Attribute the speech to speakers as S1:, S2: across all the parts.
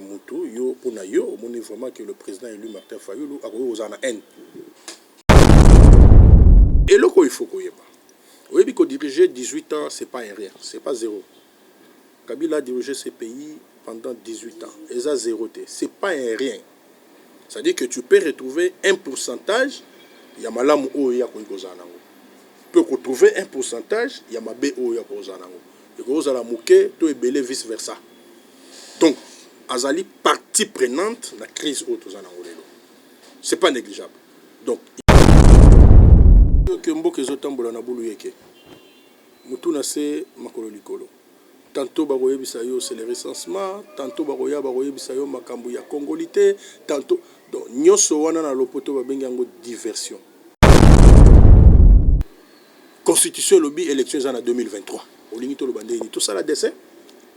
S1: Mutu yo pona yo omoni vraiment que le president elu Martin fayulu akoki kozala na haine? Eloko oyo il faut koyeba oyebi ko diriger 18 ans c'est pas un rien c'est pas zero kabila a diriger ce pays pendant 18 ans eza zero te c'est pas un rien ça veut dire que tu peux retrouver un pourcentage ya malamu oyo ye akoki kozala na yango pe oko trouver un pourcentage ya mabe oyo ye akoki kozala na yango ekoki kozala muke to ebele vice versa. donc azali partie prenante na crise oyo toza nango lelo c'est pas negligeable donc que mboka ezo tambola na bulu yeke mutu na se makolo likolo tanto bakoyebisa yo c'est le recensement tanto bakoya bakoyebisa yo makambo ya congolite tanto donc nyonso wana na lopoto babengi yango diversion Constitution elobi election eza na 2023 olingi toloba ndenge nini tosala dessin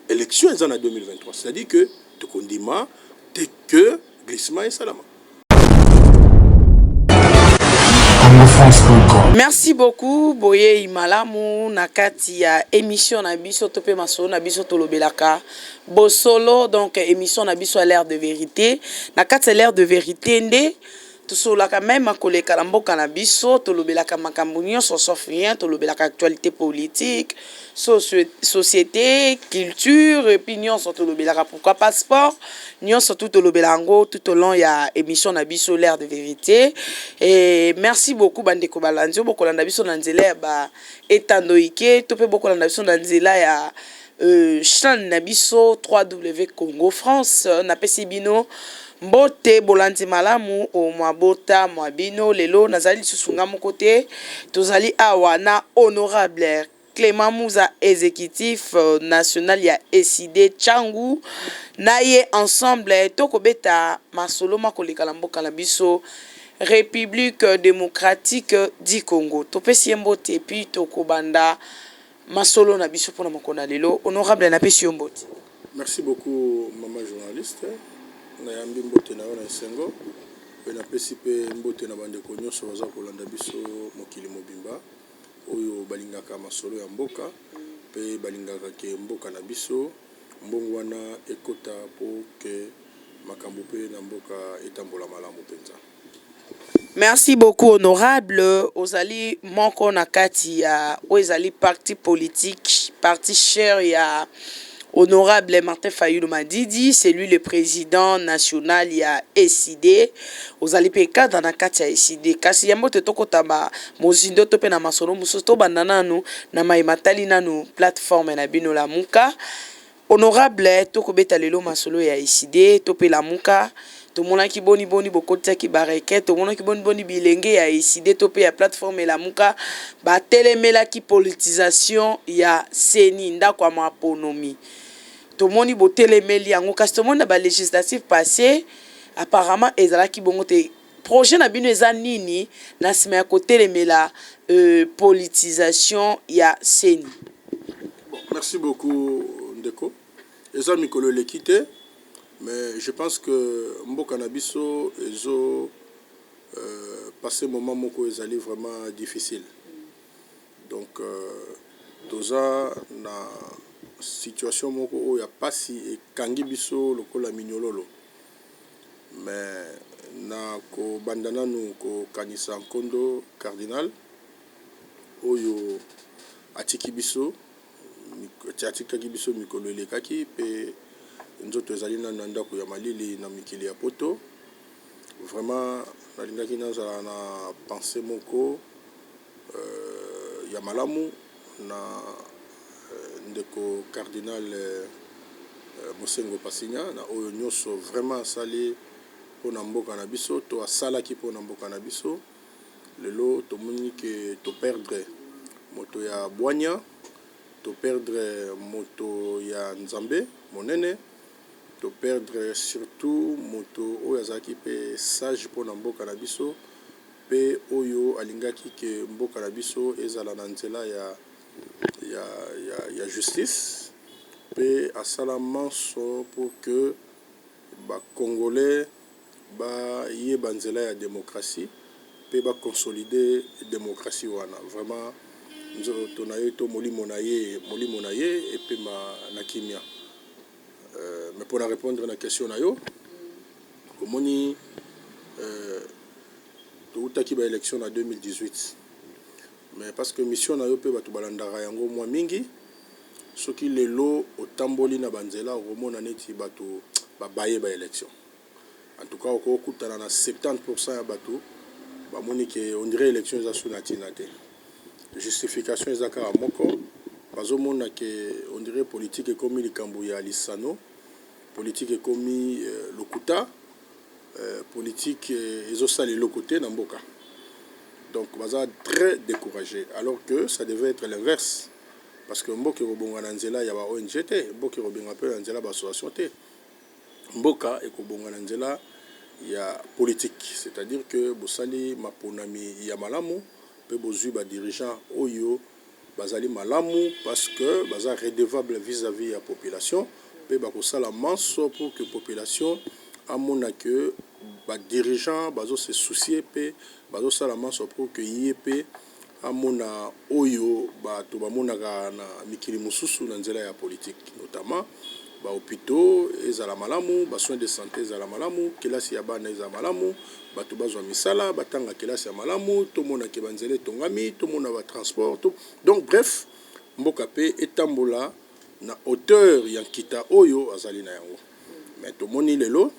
S1: election eza na 2023 c'est à dire que tokondima te que glissement esalama
S2: Merci beaucoup boyei malamu na kati ya émission na biso to pe masolo na biso tolobelaka bosolo donc émission na biso à l'air de vérité na kati ya l'air de vérité nde Tosololaka meme koleka na mboka na biso, tolobelaka makambo nionso sauf rien, tolobelaka actualite politique, socio, societe, culture et puis nionso tolobelaka pourquoi pas sport, nionso tout tolobela yango tout au long ya emission na biso l'heure de verite et merci beaucoup ba ndeko balandi oyo bokolanda biso na nzela ya ba etando ike to pe bokolanda biso na nzela ya Chaine na biso www.congo france napesi bino mbote bolandi malamu o mwabota mwa bino lelo nazali lisusu nga moko te tozali awa na honorable clement muza executif national ya ecide changu na ye ensemble tokobeta masolo makoleka na mboka na biso republique democratique du congo topesi ye mbote epuis tokobanda Masolo na biso pona mokolo na lelo. Honorable na pesi yo mbote. Merci beaucoup
S1: maman journaliste na yambi mbote na yo na esengo pe na pesi pe mbote na ba ndeko nionso baza kolanda biso mokili mobimba oyo balingaka masolo ya mboka pe balingaka ke mboka na biso mbongwana ekota po ke makambo pe na mboka etambola malamu penza.
S2: Merci beaucoup honorable ozali moko na kati ya oyo ezali parti politique parti cher ya honorable Martin fayulu madidi c'est lui le president national ya ecide ozali mpe cadre na kati ya ecide kasi yambo te tokota ba mozindo to mpe na masolo mosusu tobanda nanu na mai matali nanu plateforme na bino lamuka Honorable to ko beta lelo masolo ya ecide to pe lamuka to monaki boni boni bo kotisaki bareke to monaki boni boni bilenge ya ecide to pe ya plateforme lamuka ba telemelaki politisation ya ceni ndako ya ma ponomi to moni bo telemeli yango kasi to moni na ba legislatives passe apparemment ezalaki bongo te Projet na bino eza nini na sima ya kotelemela politisation ya ceni? Bon
S1: merci beaucoup ndeko eza mikolo eleki te mais je pense que mboka na biso ezo passe moment moko ezali vraiment difficile donc toza na situation moko oyo ya pasi ekangi biso lokola minyololo Mais na ko banda nanu ko kanisa nkondo cardinal oyo a tiki biso, a tikaki biso mikolo e lekaki pe nzoto e zali nanu na ndaku ya malili na mikili ya poto. Vraiment na lingaki na zala na pensee moko. ya malamu na ndeko cardinal Monsengwo Pasinya na oyo nyoso vraiment asali pona mboka na biso to asalaki pona mboka na biso lelo tomoni ke to perdre moto ya bwanya to perdre moto ya nzambe monene to perdre surtout moto oyo azalaki pe sage pona mboka na biso mpe oyo alingaki que mboka na biso ezala na nzela ya ya ya ya justice mpe asala manso pour que ba congolais ba yeba nzela ya democratie mpe ba consolide democratie wana vraiment nzoto na ye to molimo na ye molimo na ye epema na kimia. Mais pona repondre na question na yo, omoni towutaki ba elections na 2018 mais parce que mission na yo pe batu balandaka yango mua mingi, soki lelo otamboli na ba nzela okomona neti batu babaye ba elections. En tout cas oko kutana na 70 pourcent ya batu ba moni ke on dirait election eza su na tina te. Justification eza kaka moko, bazo mona ke on dirait politique ekomi likambo ya lisano, politique ekomi lokuta, politique ezo sala eloko te na mboka. Donc baza très decourager alors que ça devait etre l'inverse parce que mboka eko bonga na nzela ya ba ong te, mboka eko benga pe na nzela ya ba association te. mboka ekobonga na nzela ya politiki, c'est-à-dire que bosali maponami ya malamu mpe bozui ba dirigeants oyo bazali malamu parce que baza redevables vis-à-vis ya population mpe bakosala manso pour que population amona que ba dirigeants bazo se soucier mpe bazosala manso pour que ye mpe amona oyo bato bamonaka na mikili mosusu na nzela ya politiki, notamment ba hopitaux ezala malamu, ba soins de sante ezala malamu, kelasi ya bana ezala malamu, bato bazwa misala, batanga kelasi ya malamu, tomona ke ba nzela etongami, tomona ba transports, to, donc bref, mboka pe etambola na hauteur ya nkita oyo azali na yango. Mais tomoni lelo,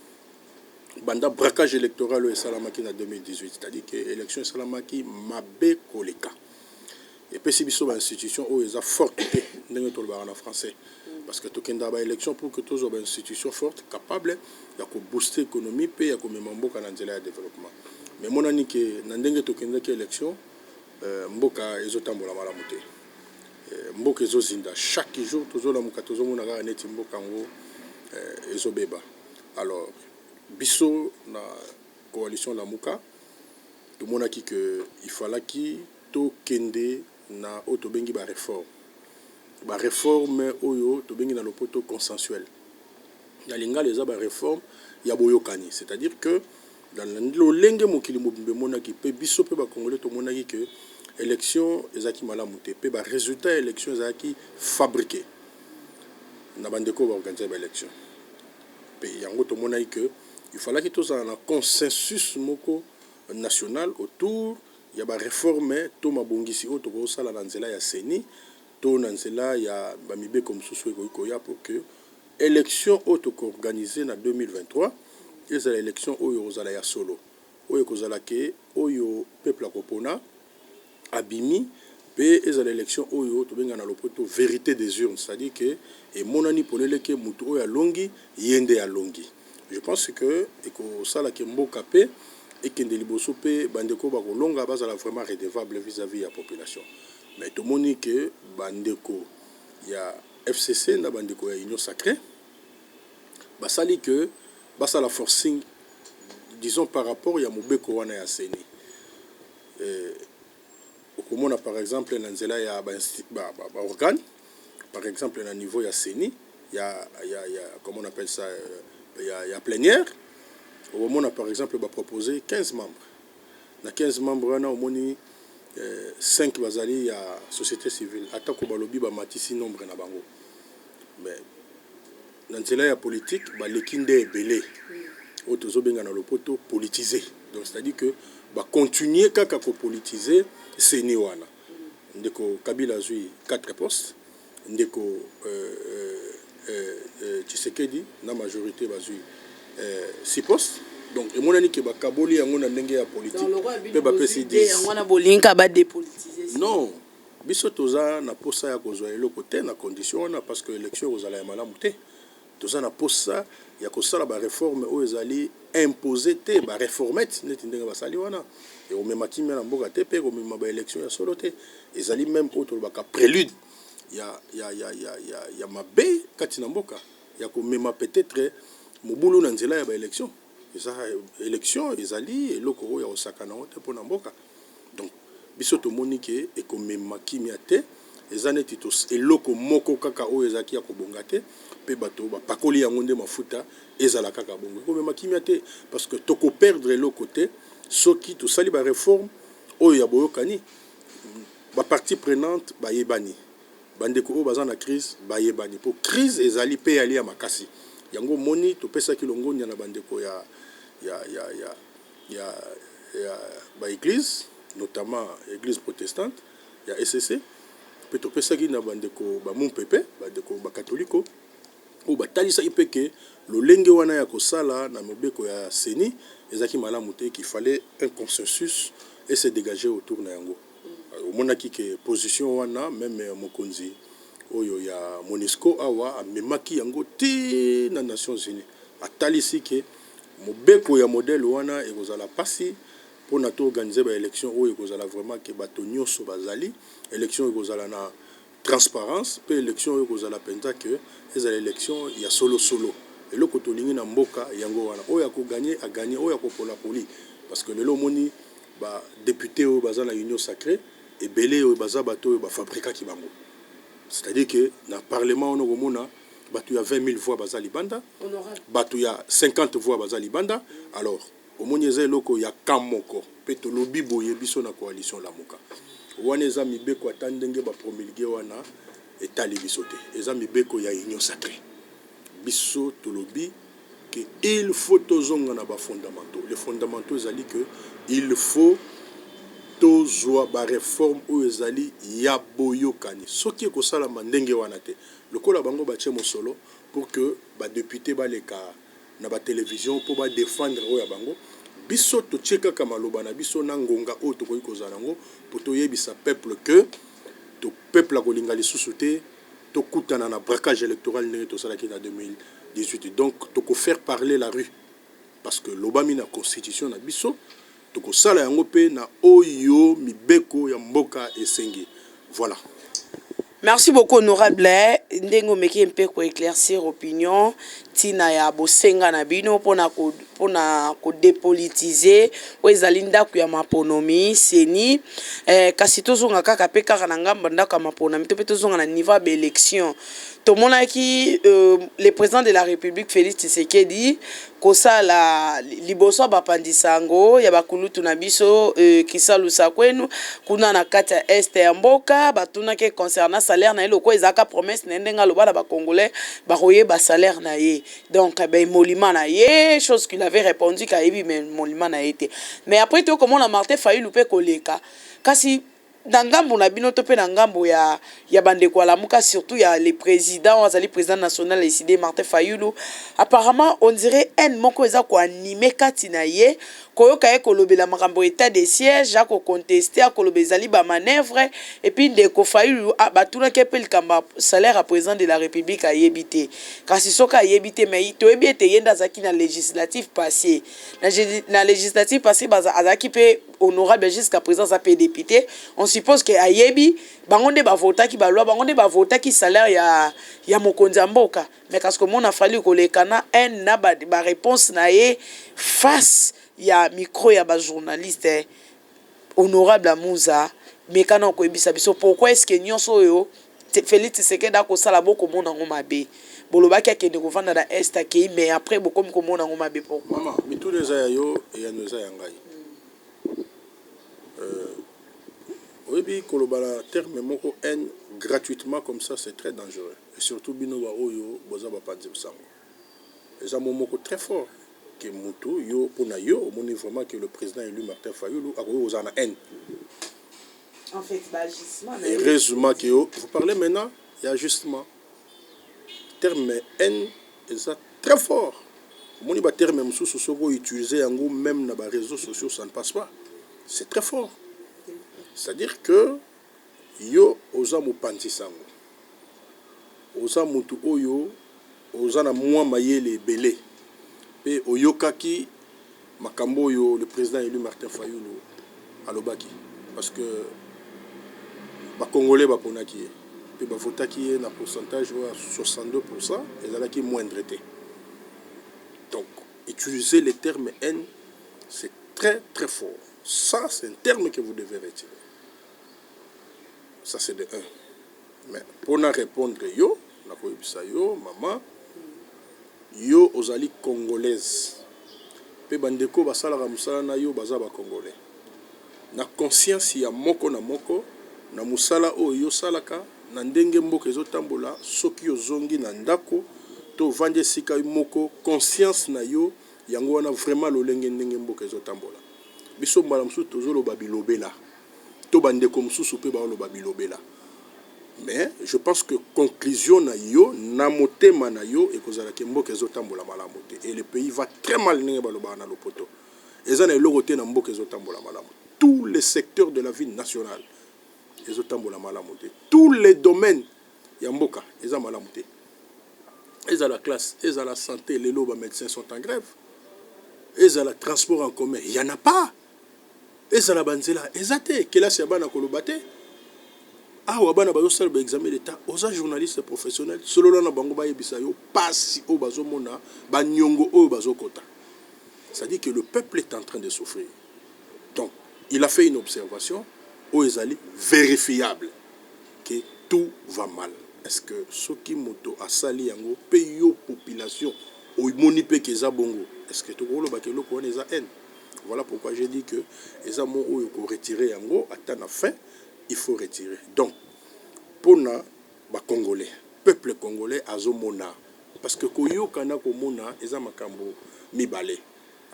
S1: banda braquage electoral oyo esalamaki na 2018 c'est à dire que election esalamaki mabe koleka epesi biso ba institution oyo eza forte te ndenge tolobaka na français parce que tokendaka ba election pour que tozwa ba institution forte capable ya kobooste économie mpe ya komema mboka na nzela ya développement mais emonani ke na ndenge tokendaki election euh, mboka ezotambola malamu te euh, mboka ezozinda chaque jour tozolamuka tozomona kaka neti mboka yango euh, ezobeba Alors biso na coalition lamuka tomonaki que il falaki to kende na oyo tobengi ba reformes. Ba reformes oyo tobengi na lopoto consensuel. Na lingala eza ba reformes ya boyokani. C'est à dire que na lolenge mokili mobimba emonaki pe biso pe ba congolais tomonaki que election ezalaki malamu te pe ba resultats ya election ezalaki fabriquer na ba ndeko oyo ba organiser ba elections. Mpe yango tomonaki que il fallaki tozala na consensus moko national autour ya ba reformes to mabongisi oyo tokoki kosala na nzela ya ceni to na nzela ya ba mibeko mosusu oyo ekoki koya pour que election oyo toko organiser na 2023 ezala election oyo ekozala ya solo, oyo ekozala que oyo peuple akopona abimi pe ezala election oyo tobenga na lopoto verite des urnes c'est à dire que emonani polele que mutu oyo alongi ye nde alongi je pense que ekosala que mboka pe ekende liboso pe ba ndeko oyo bakolonga bazala vraiment redevable vis à vis ya population mais tomoni que ba ndeko ya FCC na ba ndeko ya union sacre basali que basala forcing disons par rapport ya mobeko wana ya ceni. Okomona par exemple na nzela ya ba organe par exemple na niveau ya ceni comment on appelle ça ya plenière okomona par exemple ba propose 15 membre na 15 membre wana omoni 5 bazali ya societe civile atako balobi bamatisi nombre na bango. Na nzela ya politique ba leki nde ebele oyo tozo benga na lopoto politise donc c'est à dire que ba continuer kaka ko politise ceni wana ndeko kabila azui 4 poste ndeko tshisekedi na majorite bazui 6 poste donc emonani ke ba kaboli yango na ndenge ya politique pe ba pesi 10 non. Biso toza na posa ya kozua eloko te na condition wana parce que election ekozala ya malamu te. Toza na posa ya kosala ba reformes oyo ezali imposer te, ba reformettes neti ndenge basali wana ekomema kimia na mboka te mpe ekomema ba elections ya solo te. Ezali meme oyo tolobaka prelude ya, ya, ya, ya, ya, ya mabe kati na mboka, ya komema peut-etre mobulu na nzela ya ba elections. Eza election ezali eloko oyo ya kosakana yango te pona mboka donc biso tomoni ke ekomema kimia te eza neti eloko moko kaka oyo ezalaki ya kobonga te pe bato bapakoli yango nde mafuta ezala kaka bongo ekomema kimia te parce que toko perdre eloko te soki tosali ba reforme oyo ya boyokani ba partie prenante bayebani. ba ndeko oyo baza na crise bayebani po crise ezali pe yali ya makasi yango omoni topesaki longonya na ba ndeko ya ya ya ya ya ya ba eglise notamment eglise protestante ya ecc pe topesaki na ba ndeko ba mumpe pe ba ndeko ba katoliko oyo batalisaki pe ke lolenge wana ya kosala na mobeko ya ceni ezalaki malamu te qu'il fallait un consensus ese degager autour na yango. Omonaki que position wana meme mokonzi oyo ya Monusco awa amemaki yango ti na Nations unies. Atalisi que mobeko ya modèle wana ekozala pasi pona to organiser ba elections oyo ekozala vraiment que bato nionso bazali. Elections ekozala na. Transparence mpe election oyo ekozala penza que ezala election ya solo solo. Eloko tolingi na mboka yango wana. Oyo ako gagner a gagner, oyo ako pola apoli. Parce que lelo omoni ba deputes oyo baza na union sacree ebele oyo baza batu oyo ba fabrikaki bango. C'est à dire que na parlement wana okomona batu ya 20.000 voix baza libanda, batu ya 50 voix baza libanda alors. Omoni eza eloko ya camp moko pe tolobi boye biso na coalition lamuka wana eza mibeko ata ndenge ba promulguer wana etali biso te eza mibeko ya union sacre biso tolobi que il faut tozonga na ba fondamentaux les fondamentaux ezali que il faut tozua ba reformes oyo ezali ya boyokani soki ekosalama ndenge wana te lokola bango batie mosolo pour que ba deputes baleka na ba television po ba defendre oyo ya bango, biso totie kaka maloba na biso na ngonga oyo tokoki kozala nango po toyebisa peuple que to peuple akolinga lisusu te tokutana na braquage electoral ndenge tosalaki na 2018 donc toko faire parler la rue parce que elobami na constitution na biso. Tokosala yango pe na oyo mibeko ya mboka esengi. Voilà.
S2: Merci beaucoup honorable ndenge omeki mpe ko eclaircir opinion tina ya bosenga na bino pona ko pona ko depolitiser oyo ezali ndaku ya maponomi ceni eh, kasi tozonga kaka mpe kaka na ngambo ya ndaku ya maponomi to mpe tozonga na niveau ya ba election tomonaki euh, le president de la republique Felix Tshisekedi kosala liboso ya bapanzi sango ya ba kulutu na biso euh kisalu sakwenu kuna na kati ya est ya mboka ba tunaki ye concernant salaire na ye lokola ezalaka promesse na ye ndenge aloba na ba congolais ba koyeba salaire na ye donc ba emoluments na ye chose qu'il avait repondu que ayebi ba emoluments na ye te mais après to komona Martin Fayulu pe koleka kasi na ngambo na bino to pe na ngambo ya ya ba ndeko ya lamuka surtout ya le president oyo azali president national ya ecide Martin Fayulu apparemment on dirait haine moko eza ko animer kati na ye koyoka ye kolobela makambo ya etat de siège ako contester akoloba ezali ba manoeuvre et puis ndeko Fayulu a batunaki ye pe likambo ya salaire ya president de la Republique ayebi te kasi soki ayebi te mais toyebi ete ye nde azalaki na legislative passer na legislative passer azalaki pe Honorable jusqu'à present aza pe depute on suppose que ayebi bango nde ba votaki ba loi bango nde ba votaki salaire ya ya mokonzi ya mboka mais kasi komona Fally koleka na haine na ba reponse na ye face ya micro ya ba journaliste honorable Amuza meka nao koyebisa biso pourquoi est ce que nionso oyo Felix tshisekedi akosala boko mona ngo mabe bolobaki akende kovanda na est akeyi mais après bokomi komona ngo mabe pourquoi? Mama mituna eza ya yo
S1: eyano eza ya ngai euh oyebi koloba na terme moko haine gratuitement comme ça c'est très dangereux et surtout bino ba oyo boza ba panzi sango eza mo moko très fort que mutu yo pona yo omoni vraiment que le president elu Martin Fayulu akoki kozala na haine
S2: heureusement que
S1: yo vous parlez maintenant ya ajustement terme haine eza très fort omoni ba terme mosusu soki o utiliser yango même na ba réseaux sociaux ça ne passe pas c'est très fort c'est à dire que yo oza mopanzi sango oza mutu oyo oza na mua mayele ebele pe oyokaki makambu oyo le president elu Martin Fayulu alobaki parce que ba congolais ba ponaki ye pe ba votaki ye na pourcentage oyo ya 62 pourcent ezalaki moindre te donc utilise le terme haine c'est très très fort ça c'est un terme que vous devez retirer. ça c'est de un mais po na repondre yo nako yebisa yo maman yo ozali congolaise pe ba ndeko oyo basalaka musala na yo baza ba congolais na conscience ya moko na moko na musala oyo yo osalaka na ndenge mboka ezo tambola soki ozongi na ndako to ovandi esika yo moko conscience na yo yango wana vraiment lolenge ndenge mboka ezo tambola biso mbala mosusu tozo loba bilobela to ba ndeko mususu pe bao loba bilobela mais je pense que conclusion na yo na motema na yo ekozala ke mboka ezo tambola malamu te et le pays va très mal ndenge ba lobaka na lopoto eza na eloko te na mboka ezo tambola malamu tous les secteurs de la vie nationale ezo tambola malamu te tous les domaines ya mboka eza malamu te ezala classe ezala sante lelo ba medecins sont en grève ezala transport en commun il y en a pas Ezala ba nzela eza te kelasi ya bana koloba te Awa bana bazo sala ba examen d'etat oza journaliste professionnel solola na bango bayebisa yo pasi oyo bazo mona ba niongo oyo bazo kota ça dit que le peuple est entrain de souffrir donc il a fait une observation oyo ezali verifiable que tout va mal. Est ce que soki moto asali yango pe yo population omoni pe que eza bongo est ce que toko loba que eloko wana eza haine? Voilà pourquoi j'ai dit que eza mot oyo ko retirer yango ata na fin il faut retirer donc pona ba congolais peuples congolais azo mona parce que koyoka na komona eza makambo mibale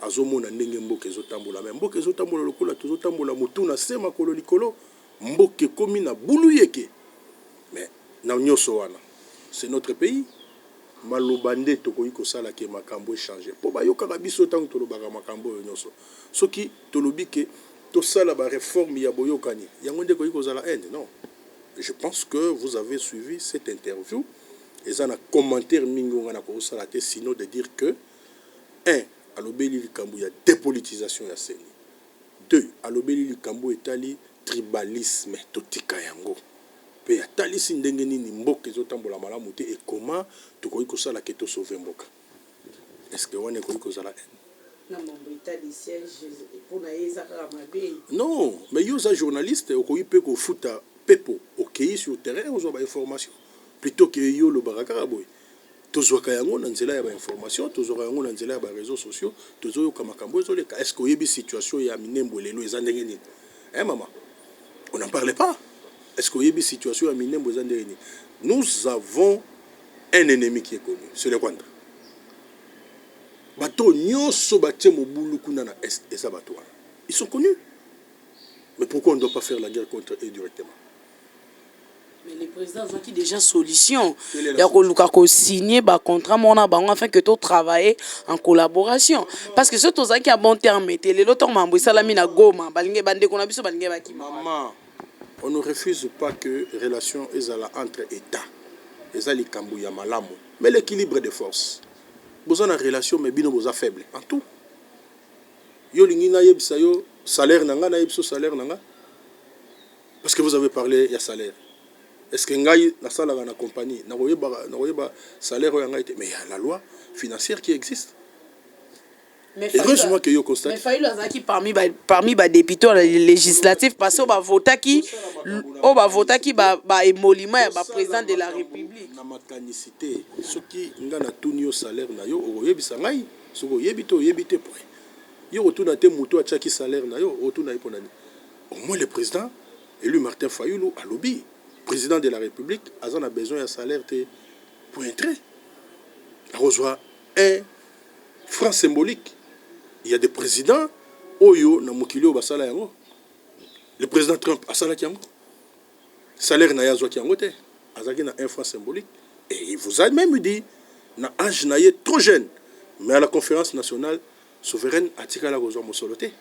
S1: azo mona ndenge mboka ezo tambola mais mboka ezo tambola lokola tozo tambola mutu na se makolo likolo. Mboka ekomi na buluyeke mais na nioso wana c'est notre pays maloba nde tokoki kosala que makambu e changer po bayokaka biso tangu tolobaka makambu oyo nioso soki tolobi que tosala ba reformes ya boyokani yango nde ekoki kozala haine non je pense que vous avez suivi cette interview eza na commentaire mingi oyo ngai nakoki kosala te sinon de dire que un alobeli likambu ya depolitisation ya ceni Deux, alobeli likambo oyo etali tribalisme, totika yango, mpe atalisi ndenge nini mboka ezo tambola malamu te et comment tokoki kosala que to sauver mboka. Est-ce que wana ekoki kozala haine? Na mambo etali siège, mpo na ye eza kaka mabe? Non, mais yo oza journaliste, okoki mpe kofuta pepo, okeyi sur terrain ozwa ba informations, plutot que yo olobaka kaka boye. tozwaka yango na nzela ya ba information tozwaka yango na nzela ya ba reseau sociaux tozoyoka makambo ezoleka est ce que oyebi situation ya minembwe lelo eza ndenge nini eh mama on n'en parle pas est ce que oyebi situation ya minembwe eza ndenge nini nous avons un ennemi qui est connu c'est le rwanda bato oyo nyonso batie mobulu kuna na est eza bato wana ils sont connus mais pourquoi on ne doit pas faire la guerre contre eux directement
S2: Mais le president azwaki dejà solution ya koluka ko signer ba contrat moko na bango afin que to travailler en collaboration parce que soki tozalaki ya bon terme te lelo ntango makambo esalami na Goma balingi bandeko na biso balingi bakima
S1: Maman, on ne refuse pas que relation ezala entre Etats. Eza likambo ya malamu. Mais l'equilibre de force. Boza na relation mais bino boza faible en tout. Yo olingi nayebisa yo salaire na nga nayebisa yo salaire na nga? Parce que vous avez parle ya salaire est ce que ngai nasalaka na compagnie nakoyeba salaire oyo ya ngai te mais ya la loi financière qui existe
S2: mais fayulu azalaki parmi ba, parmi ba députés na législatif parce oyo bavotaki oyo bavotaki ba, ba emolima ya ba président de la république na makanisi te
S1: soki ngai natuni yo salaire na yo okoyebisa ngai soki oyebi te oyebi te poi yo kotuna te moto atiaki salaire na yo otuna ye mpo na nini Au moins le president elu Martin Fayulu alobi president de la republique aza na besoin ya salaire te pointre. Akozwa un franc symbolique. Il ya des presidents oyo na mokili oyo basala yango. Le president Trump asalaki yango. Salaire na ye azwaki yango te. Azalaki na un franc symbolique. Et il vous a même dit na age na ye trop jeune mais à la conférence nationale Souveraine atikala kozua mosolo te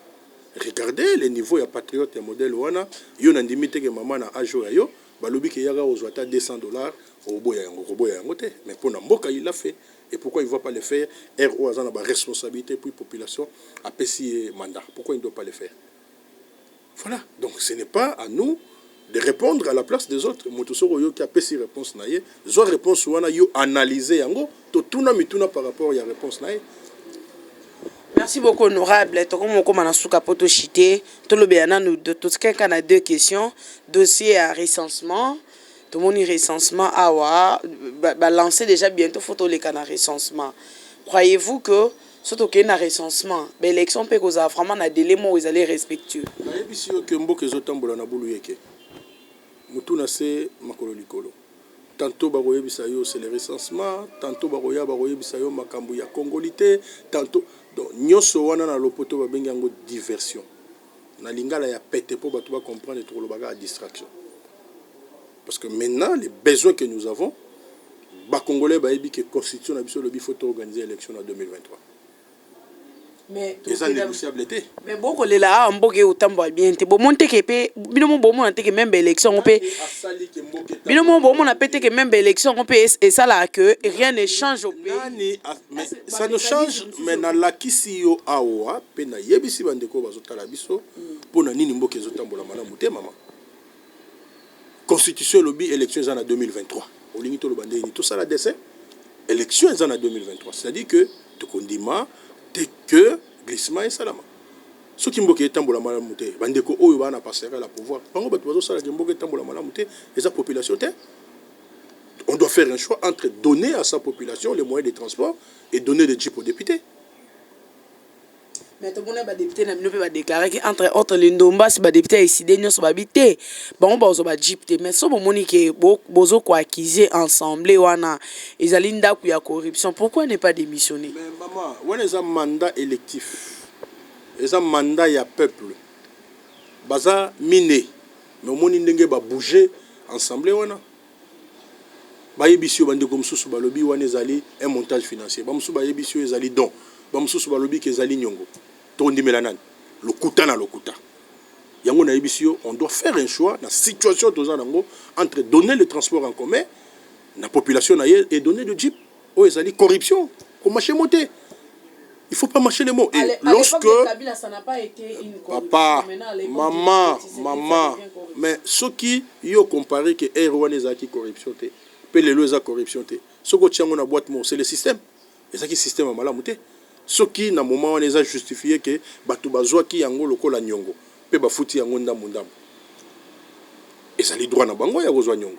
S1: regarder le niveau ya patriote ya modèle wana yo na ndimi te ke maman na age oyo ya yo balobi ke yaka ozua ata 200 dollars okoboya yango okoboya yango te mais pona mboka il l'a fait et pourquoi il voit pas le faire heure oyo aza na ba responsabilite puis population apesi ye mandat pourquoi il ne doit pas le faire. Voilà donc ce n'est pas à nous de repondre à la place des autres mutu soki oyoki apesi reponse na ye zwa reponse wana yo analyse yango to tuna mituna par rapport ya reponse na ye
S2: Merci beaucoup honorable toko moko mana suka poto chite to lobela nanu to tkenka na deux questions dossier ya recensement to moni recensement awa ba lancer déjà bientôt faut to leka na recensement croyez-vous que Soki tokei na recensement, ba elections mpe ekozala vraiment na delai moko ezali respectueux. Nayebisi yo que mboka ezo tambola na buluyeke, mutu
S1: na se, makolo likolo. Tantot bakoyebisa yo c'est le recensement, tantot bakoya bakoyebisa yo makambu ya congolite, tantot. Donc, nionso wana na lopoto babengi yango diversion. na lingala ya pete po batu ba comprendre tokoloba kaka distraction parce que maintenant le besoin que nous avons ba congolais bayebi que constitution na biso elobi faut to organiser election na 2023
S2: mais eza négociable
S1: te mais bokolela awa
S2: mboka eyo otambola bien te bomoni teke mpe bino mo bomona teke meme baélection yango mpe bino mo bomona mpe teke meme baélection yango mpe esalaka que rien ne change au pays Mais ça ne
S1: change mais na lakisi yo awa pe na yebisi ba ndeko bazo tala biso pona nini mboka ezo tambola malamu te maman constitution elobi election eza na 2023 olingi toloba ndenge nini tosala dessin election eza na 2023 c'est à dire que tokondima te que glissement esalama soki mboka etambola malamu te ba ndeko oyo bana pasaka la pouvoir bango bato bazo sala ke mboka etambola malamu te eza population te on doit faire un choix entre donner à sa population les moyens de transport et donner des jeeps aux deputes.
S2: mais tomona ba député na bino mpe badeclare ke entre autres lindombasi ba député ya eside nyonso babi te bango bakozwa ba jeep te mais so bomoni ke bozo koaccuse ensemble wana ezali ndako ya corruption pourquoi ne pas démissionner mais mama wana
S1: eza mandat électif eza mandat ya peuple baza mine Mais omoni ndenge ba bouge ensemble wana? Bayebisi yo, bandeko mosusu balobi wana ezali un montage financier, ba mosusu bayebisi yo ezali don, ba mosusu balobi que ezali niongo. Tokondimela nani? Lokuta na lokuta. Yango nayebisi yo, on doit faire un choix na situation toza na yango entre donner le transport en commun na population na ye et donner de jeep. Oyo ezali corruption ko marche mot te il faut pas marche le mot et lorsque
S2: papa
S1: mama mama mais soki yo compare que ere wana ezalaki corruption te pe lelo eza corruption te soki otia yango na boite moko c'est le système ezalaki système ya malamu te soki na moment wana eza justifie que bato bazwaki yango lokola niongo pe bafuti yango ndambu ndambu ezali droit na bango ya kozwa niongo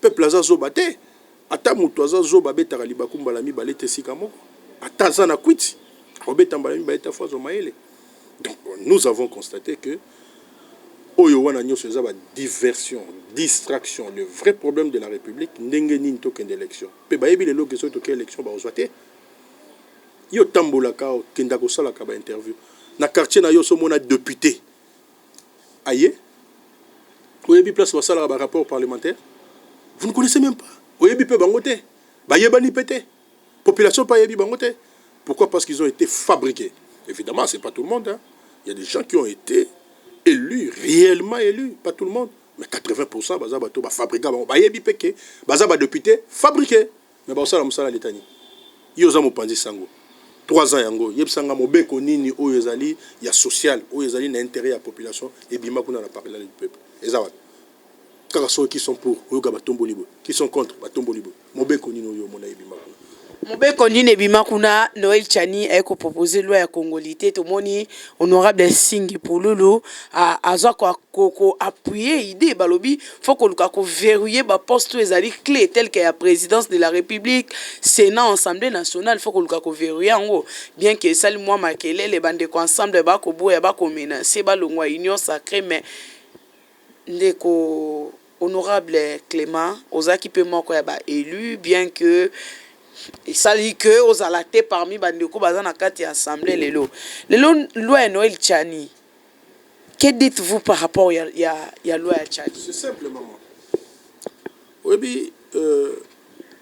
S1: Peuple aza zoba te ata mutu aza zoba abetaka libaku mbala mibale te esika moko ata aza na kwiti akobeta mbala mibale te afo azwa mayele donc nous avons constate que oyo wana nyoso eza ba diversion distraction le vrai problème de la république ndenge nini tokende élection pe bayebi lelo ke soki toke élection bakozwa te yo otambolaka okenda kosalaka ba interview na quartier na yo so omona depute aye oyebi place basalaka ba rapport parlementaire vous ne connaissez même pas oyebi pe bango te bayebani pe te population pe ayebi bango te pourquoi parce qu'ils ont été fabriqués évidemment c'est pas tout le monde hein. il y a des gens qui ont été élus réellement élus pas tout le monde mais 80% baza bato bafabrika bango bayebi pe ke baza badepute fabriqué Mais bakosala musala ya l'etat nini? Yo oza mopanzi sango trois ans yango yebisa nga mobeko nini oyo ezali ya social oyo ezali na interet ya population ebima kuna na parlement du peuple eza wapi? Kaka soki qui sont pour oyoka batomboli boye qui sont contre batomboli boye mobeko nini oyo omona ebima kuna? Mobeko nini
S2: ebima kuna? Noel Tshani aye ko proposer loi ya congolite tomoni honorable Nsingi Pululu aza ko appuyer idee balobi faut koluka ko verrouiller ba postes oyo ezali cle tel que ya presidence de la republique, senat, assemblee nationale, faut koluka ko verrouiller yango bien que esali mua makelele ba ndeko ensemble ba koboya ba ko menacer balongua union sacree mais ndeko honorable Clement ozalaki mpe moko ya ba elus bien que esali que ozala te parmi ba ndeko baza na kati ya assemblée lelo lelo loi ya Noël Tshani Que dites vous par rapport ya ya ya loi ya tshadi? C'est simple maman
S1: oyebi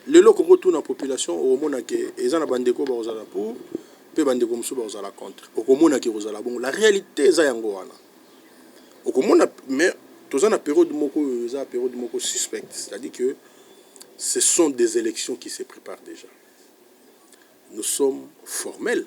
S1: lelo okoki otuna population okomona ke eza na bandeko bakozala pour pe bandeko mosusu bakozala contre okomona ke ekozala bongo la realite eza yango wana okomona mais toza na periode moko oyo eza periode moko suspecte c'est à dire que ce sont des elections qui se prépare dejà nous sommes formel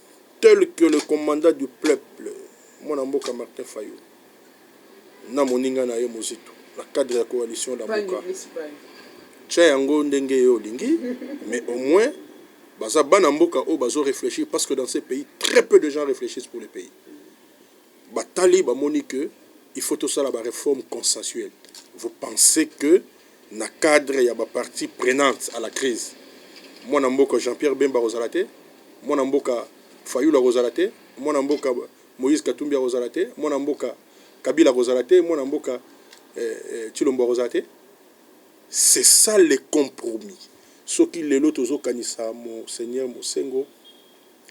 S1: Tel que le commandant du pleuple mwana mboka Martin Fayulu na moninga na ye Muzito na cadre ya coalition Lamuka. Tia yango ndenge yo olingi mais au moins baza bana mboka oyo bazo reflechir parce que dans ce pays très peu de gens reflechissent pour le pays. Batali bamoni que il faut tosala ba reformes consensuelles. Vous pensez que na cadre ya ba parties prenantes à la crise, mwana mboka Jean-Pierre Bemba akozala te? Mwana mboka Fayulu akozala te? Mwana mboka Moïse Katumbi akozala te? Mwana mboka Kabila akozala te? Mwana mboka Tshilombo akozala te? C'est ça le compromis. Soki lelo tozokanisa Monseigneur Mosengo,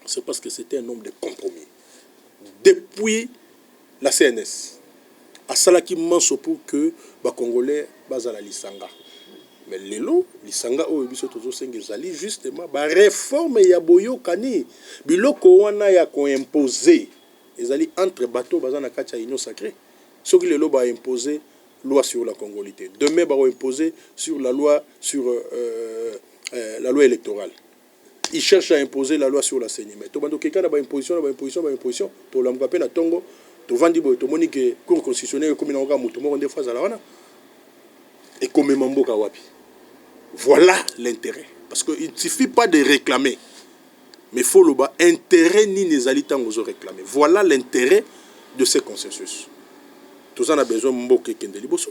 S1: C'est parce que c'etait un homme de compromis depuis la CNS asalaki manso pour que ba congolais bazala lisanga mais lelo lisanga oyo biso tozosenga ezali justement ba réforme ya boyokani biloko wana ya ko imposer ezali entre bateau baza na kati ya union sacrée soki lelo ba imposer loi sur la congolité demain ba imposer sur la loi sur euh, euh, la loi électorale il cherche à imposer la loi sur la ceni mais tobanda kokeka na ba imposition na ba imposition na ba imposition tolamuka pe na tongo tovandi boye tomoni ke cour constitutionnel ekomi nango kaka moto moko nde fo azala wana ekomema mboka wapi voilà l'interet parce que il suffit pas de réclamer mais fo loba interet nini ezali ntango ozo réclamer voilà l'interet de ce consensus toza na besoin mboka ekende liboso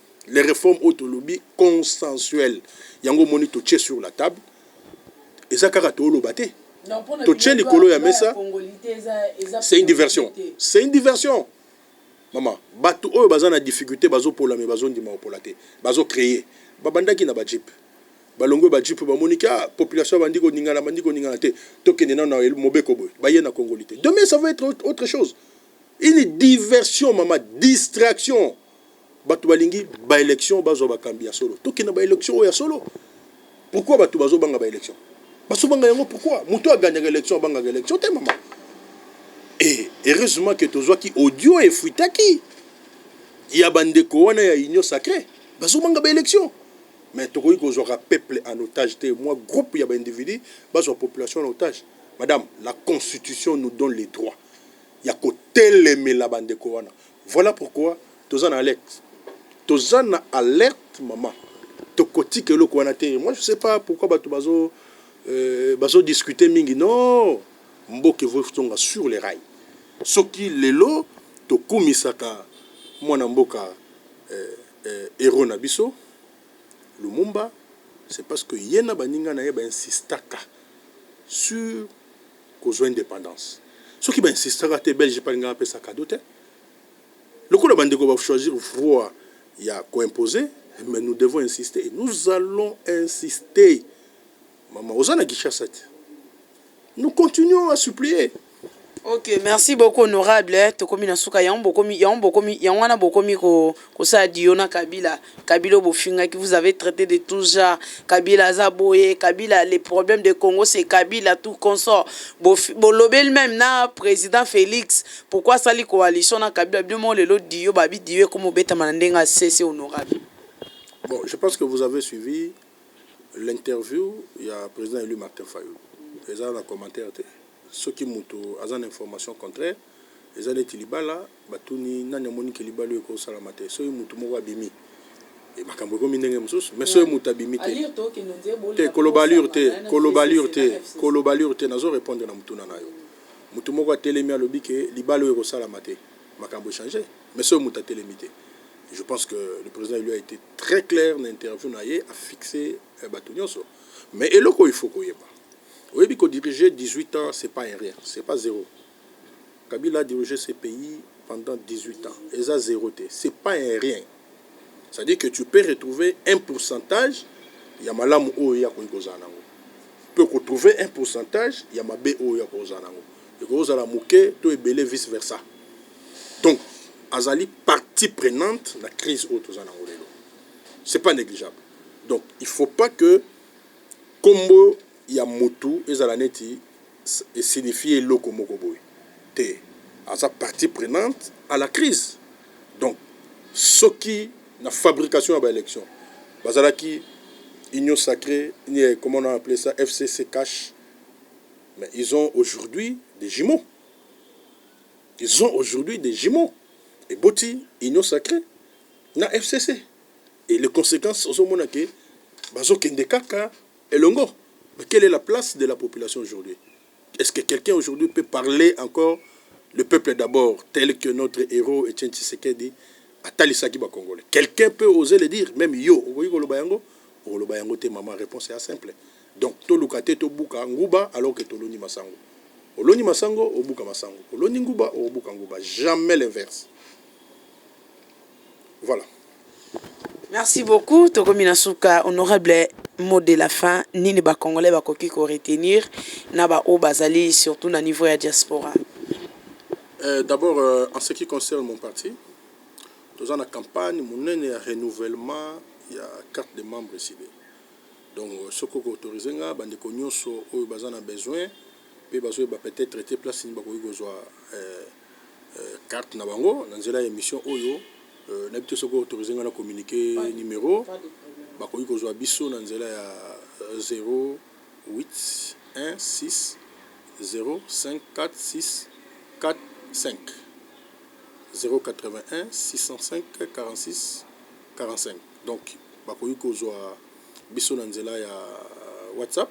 S1: les reformes oyo tolobi consensuel yango omoni totie sur la table eza kaka tooloba te totie likolo ya mesa c'est une diversion c'est une diversion mama bato oyo baza na difficulté bazopola me bazondima kopola te bazocreye babandaki na bajipe balongwe bajipe bamoniki a ah, population bandi koningana bandi koningana te tokende nano na mobeko boye baye na congoli te demain ça va être autre chose une diversion mama distraction batu balingi ba election bazwa bakambi ya solo tokende na ba election oyo ya solo pourquoi batu bazobanga ba election bazobanga yango pourquoi moto aganyaka election abangaka election te mama e heureusement ke tozwaki audio efuitaki ya bandeko wana ya union sacré bazobanga ba election mais tokoki kozwaka peuple en otage te mwa groupe ya baindividu bazwa population en otage madame la constitution nous donne les droits ya kotelemela bandeko wana Voilà pourquoi toza na alerte. Toza na alerte maman. Tokotika eloko wana te. Moi je sais pas pourquoi batu bazo euh, bazo discuter mingi. Non! Mboka evo tonga sur les rails. Soki lelo tokumisaka mwana mboka euh, euh, héros na biso Lumumba, c'est parce que ye na baninga na ye ba insistaka sur kozua independance soki ba insistaka te belge pe alingaka apesa cadeau te lokola ba ndeko ba choisir voie ya ko imposer mais nous devons insister et nous allons insister maman oza na Kinshasa te nous continuons à supplier Ok
S2: merci beaucoup honorable tokomi na suka yango bokomi yango bokomi yango wana bokomi ko Kosala duo na kabila, kabila oyo bofingaki vous avez traite de tout genre, kabila aza boye, kabila le problème de congo c'est kabila tout consort, bolobeli meme na president felix pourquoi asali coalition na kabila, bino moko lelo duo babi duo ekomi obetama na ndenge ya sese honorable. Bon, je
S1: pense que vous avez suivi l'interview ya president elu Martin Fayulu, eza na commentaire te, soki mutu aza na information contraire. eza neti libala batuni nani amoni ke libala oyo eko salama te soki mutu moko abimi et makambu ekomi ndenge mususu mais soki mutu abimi te te koloba allure te koloba allure te koloba allure te nazo repondre na mutuna nayo mutu moko atelemi alobi ke libala oyo eko salama te makambu echange mais soki mutu atelemi te je pense que le president elu a ete très claire na interview naye a fixe batu nionso mais eloko oyo il faut koyeba oyebi ko dirige 18 ans c'est pas un rien c'est pas zero Kabila a dirige ce pays pendant 18 ans eza zero te c'est pas un rien c'est à dire que tu peux retrouver un pourcentage ya malamu oyo ye akoki kozala nango pe ko trouver un pourcentage ya mabe oyo ye akoki kozala nango ekoki kozala moke to ebele vice versa donc azali partie prenante na crise oyo toza nango lelo c'est pas negligeable donc il faut pas que kombo ya mutu ezala neti e signifier eloko moko boye te aza partie prenante à la crise donc soki na fabrication ya ba election bazalaki union sacre nie comment on a appele ça FCC cache mais ils ont aujourd'hui des jumeaux ils ont aujourd'hui des jumeaux eboti union sacre na FCC et les conséquences ozomona ke bazokende kaka elongo mais quelle est la place de la population aujourd'hui est ce que quelqu'un aujourd'hui peut parler encore le peuple d'abord tel que notre heros Etienne Tshisekedi atalisaki ba congolais quelqu'un peut oser le dire meme yo okoki koloba yango okoloba yango te maman reponse ya simple donc toluka te tobuka nguba alors que toloni masango oloni masango obuka masango oloni nguba obuka nguba jamais l'inverse. Voilà.
S2: Merci beaucoup tokomi na suka honorable mot de la fin nini ba congolais bakoki ko retenir na ba oyo bazali surtout na niveau ya diaspora. Euh, d'abord
S1: euh, en ce qui concerne mon parti toza na campagne monene ya renouvellement ya carte de membre esili donc euh, soki okoautorise nga bandeko nyonso oyo baza na besoin mpe bazoyeba peut-être te place nini bakoki kozwa euh, carte na bango na nzela ya emission oyo nayebi te soki o autoriser nga na communiquer numero bakoki kozua biso na nzela ya 0816054645 0816054645 donc bakoki kozua biso na nzela ya WhatsApp.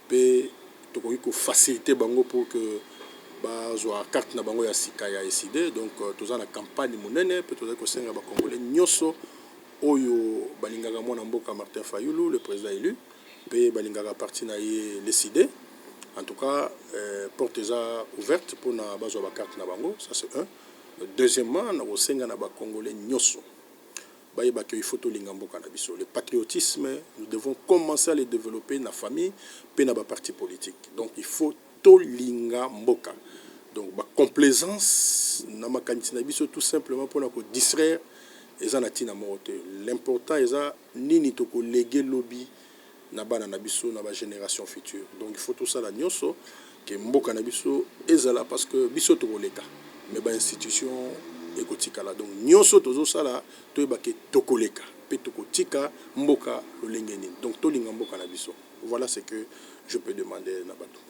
S1: pe tokoki ko faciliter bango pour que bazua carte na bango ya sika ya Ecide. Donc toza na campagne munene pe tozali kosenga ba congolais nionso oyo balingaka muana mboka Martin Fayulu, le president elu, pe balingaka parti na ye l'Ecide, en tout cas porte eza ouverte pona bazua ba cartes na bango, ça c'est un. Deuxièmement, nakosenga na ba congolais nionso. bayeba que il faut tolinga mboka na biso le patriotisme nous devons commencer à le developper na famille pe na ba partis politiques donc il faut tolinga mboka donc ba complaisance na makanisi na biso tout simplement pona ko distraire eza na tina moko te l'important eza nini toko leguer lobi na bana na biso na ba generation future donc il faut tosala nioso que mboka na biso ezala parce que biso tokoleka mais ba institution ekotikala donc nioso tozosala toyeba que tokoleka pe tokotika mboka lolenge nini donc tolinga mboka na biso voilà ce que je peux demander na bato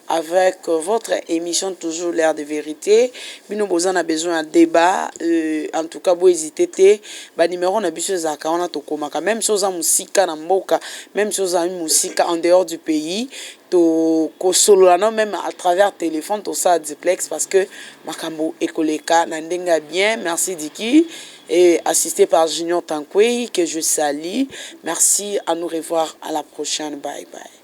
S2: Avec votre emission toujours l'heure de verite bino boza na besoin ya debat euh en tout cas bo hesite te ba numero na biso ezalaka wana tokomaka meme si oza musika na mboka meme si ozali musika en dehors du pays to kosolola nao meme à travers telephone tosala duplex parce que makambo ekoleka na ndenge ya bien merci Dicky et assisté par Junior Tankwey que je salis merci à nous revoir à la prochaine bye bye.